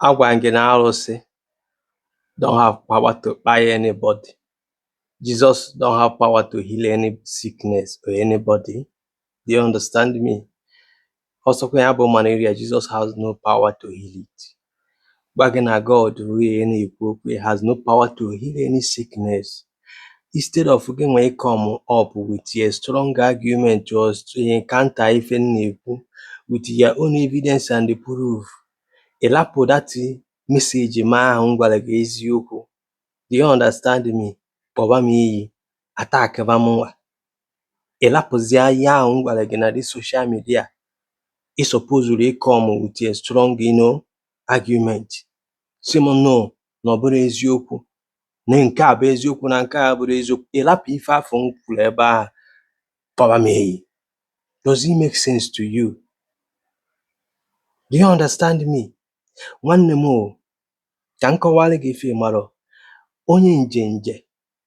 Agwa m gị na arụsị don't have power to kpai anybody. Jesus don't have power to heal any sickness or anybody. Do you understand me? Ọsọkwa ya bụ malaria, Jesus has no power to heal it. Gwa gị na God ruo na-ekwu okwu, he has no power to heal any sickness. Instead of gịnwa ị come up with a strong argument and counter ife m na-ekwu with your own evidence and proof, ị lapụ that message m ahụ m gwara gị eziokwu do you understand me kpọba m iyi attackịba mụnwa ị lapụzie ihe ahụ m gwara gị na the social media ị supposuru ị come with a strong you know, argument sị m no na ọ bụrọ eziokwu na nke a bụ eziokwu na nke a bụrọ eziokwu ị lapụ ife afụ m kwuru ebe ahụ kpọba m iyi does it make sense to you do you understand me nwanne m o ka m kọwara gị ife ị marọ onye njenje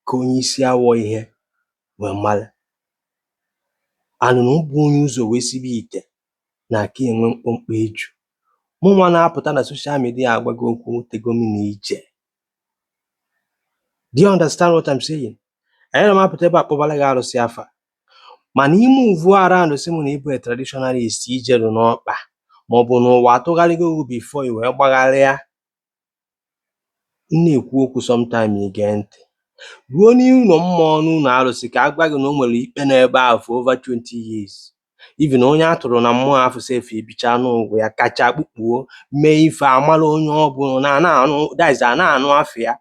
ka onye isi awọ ihe wee mara na onye bu onye ụzọ wee sibe ite na-aka enwe mkpọmkpọ eju mụnwa na-apụta na social media agwa gị okwu tego m na ije Do you understand what I'm saying? Anyị na-amapụta ebe a kpọbara gị arụsị afa mana ị move around sị m na ị bụ a traditionalist i jeru n'ọkpa maọbụ n'ụwa atụgharịgo gị before i wee gbagharịa m na-ekwu okwu sometime i gee ntị ruo n'ụlọ mmụọ n'ụlọ arụsị ka a gwa gị na o nwere ikpe n'ebe ahụ for over 20 years even onye a tụrụ na mmụọ afụ sef ebichaa ndụ ụwa ya kacha kpukpuo mee ife a mala onye ọ bụ na nowadays a na-anụ afa ya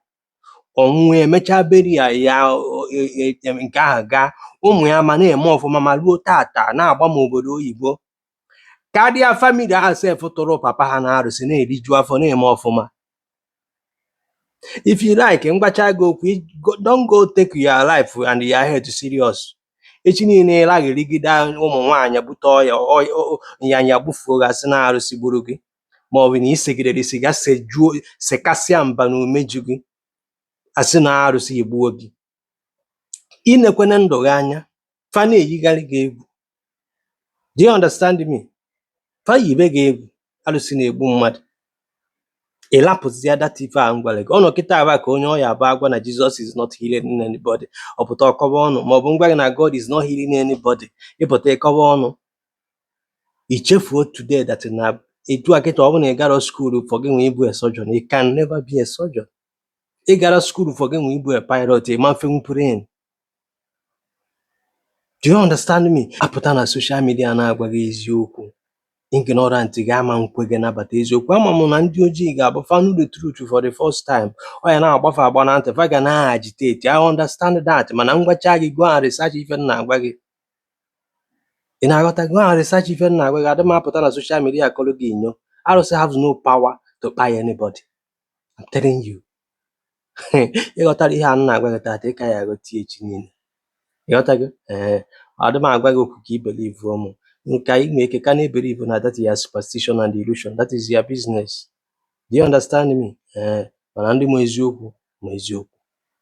ọnwụ emechaa beri ya ya o- e- e- e- nke ahụ gaa ụmụ ya ma na-eme ọfụma ma ruo tata na-agba ma obodo oyibo karịa family ahụ sef tụrụ papa ha na arụsị na-eriju afọ na-eme ọfụma if you like m gwacha gị okwu don't go take your life and your health serious echi niile ị lagharịgide ụmụ nwaanyị bute ọya nyanya gbufuo gị a sị na arụsị gburu gị ma ọ bụ na i segidere sịga sejuo sekasịa mba na umeju gị a sị na arụsị egbuo gị i nekwana ndụ gị anya fa na-eyigharị gị egwu do you understand me fa yibe gị egwu alụsị na-egbu mmadụ ị lapụzia that ife a m gwara gị ọ nọ kịta aba ka onye ọya abụ agwa na Jesus is not healing anybody ọ pụta ọ kọba ọnụ maọbụ m gwa gị na God is not healing anybody ị pụta ị kọba ọnụ i chefuo today that na etu a kịta ọ bụ na ị garọ school for gịnwa ịbụ a surgeon you can never be a surgeon ị gara school for gị nwa ịbụ a pilot ị ma mfenwu plane do you understand me apụta na social media na-agwa gị eziokwu ignorant gị ama nkwe gị nabata eziokwu ama m na ndị ojii ga-abụ fa nụ the truth for the first time ọ ya na-agba fa agba na ntị fa ga na-agitate I understand that mana m gwacha gị go and research ife m na-agwa gị ị na-aghọta go and research ife m na-agwa gị adị m apụta na social media kọrọ gị inyo arụsị has no power to kpai anybody I'm telling you. Ị ghọtara ihe a m na-agwa gị taata, ị ka ya aghọta ya echi niile. Ị ghọtago? Ee. Adị m agwa gị okwu ka i believuo m. Nke a i nwere ike ka na-ebelieve na that is your superstition and illusion. That is your business. Do you understand me? Ee. Mana ndị ma eziokwu ma eziokwu.